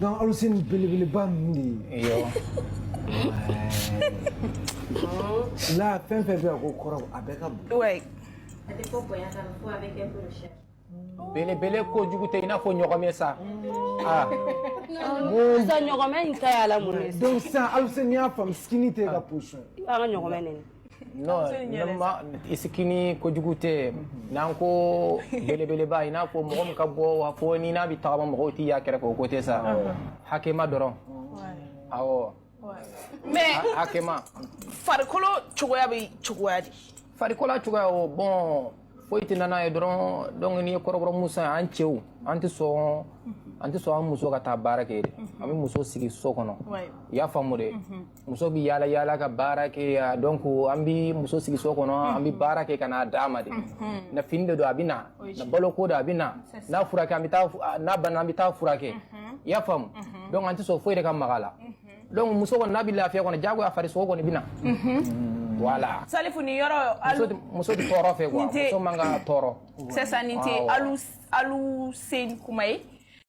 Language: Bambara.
Donc Alusɛn belebeleba de. Iyo. La fɛn fɛn bɛ yan ko kɔrɔ a bɛɛ ka bon. Ouais. Belebele kojugu tɛ i n'a fɔ ɲɔgɔmɛ sa. Ah. Sisan ɲɔgɔmɛ in ta y'a la mun ye? Donc sisan Alusɛn n'i y'a faamu skinny tɛ e ka position ye. I b'a ka ɲɔgɔmɛ nɛnɛ. non skinny kojugu tɛ n'an ko belebeleba i n'a fɔ mɔgɔ min ka bon fo ni n'a bɛ tagama mɔgɔw tɛ y'a kɛrɛfɛ o ko tɛ sa hakɛma dɔrɔn awɔ mais hakɛma farikolo cogoya bɛ cogoya di farikolo cogoya o bon foyi tɛ nana ye dɔrɔn donc n'i ye kɔrɔbɔrɔ muso ye an cɛw an tɛ sɔn an tɛ sɔn an muso ka taa baara kɛ an bɛ muso sigi so kɔnɔ i y'a faamu de muso bɛ yaala yaala ka baara kɛ donc an bɛ muso sigi so kɔnɔ an bɛ baara kɛ ka n'a d'a ma de n'a fini de don a bɛ na n'a balo ko don a bɛ na n'a furakɛ an bɛ taa n'a banana an bɛ taa furakɛ i y'a faamu donc an tɛ sɔn foyi de ka mag'a la donc muso kɔni n'a bɛ lafiya kɔnɔ jagoya farisogo kɔni bɛ na voilà salifu ni yɔrɔ muso tɛ tɔɔrɔ fɛ muso man kan ka tɔɔrɔ sisan nin tɛ Alusɛn kuma ye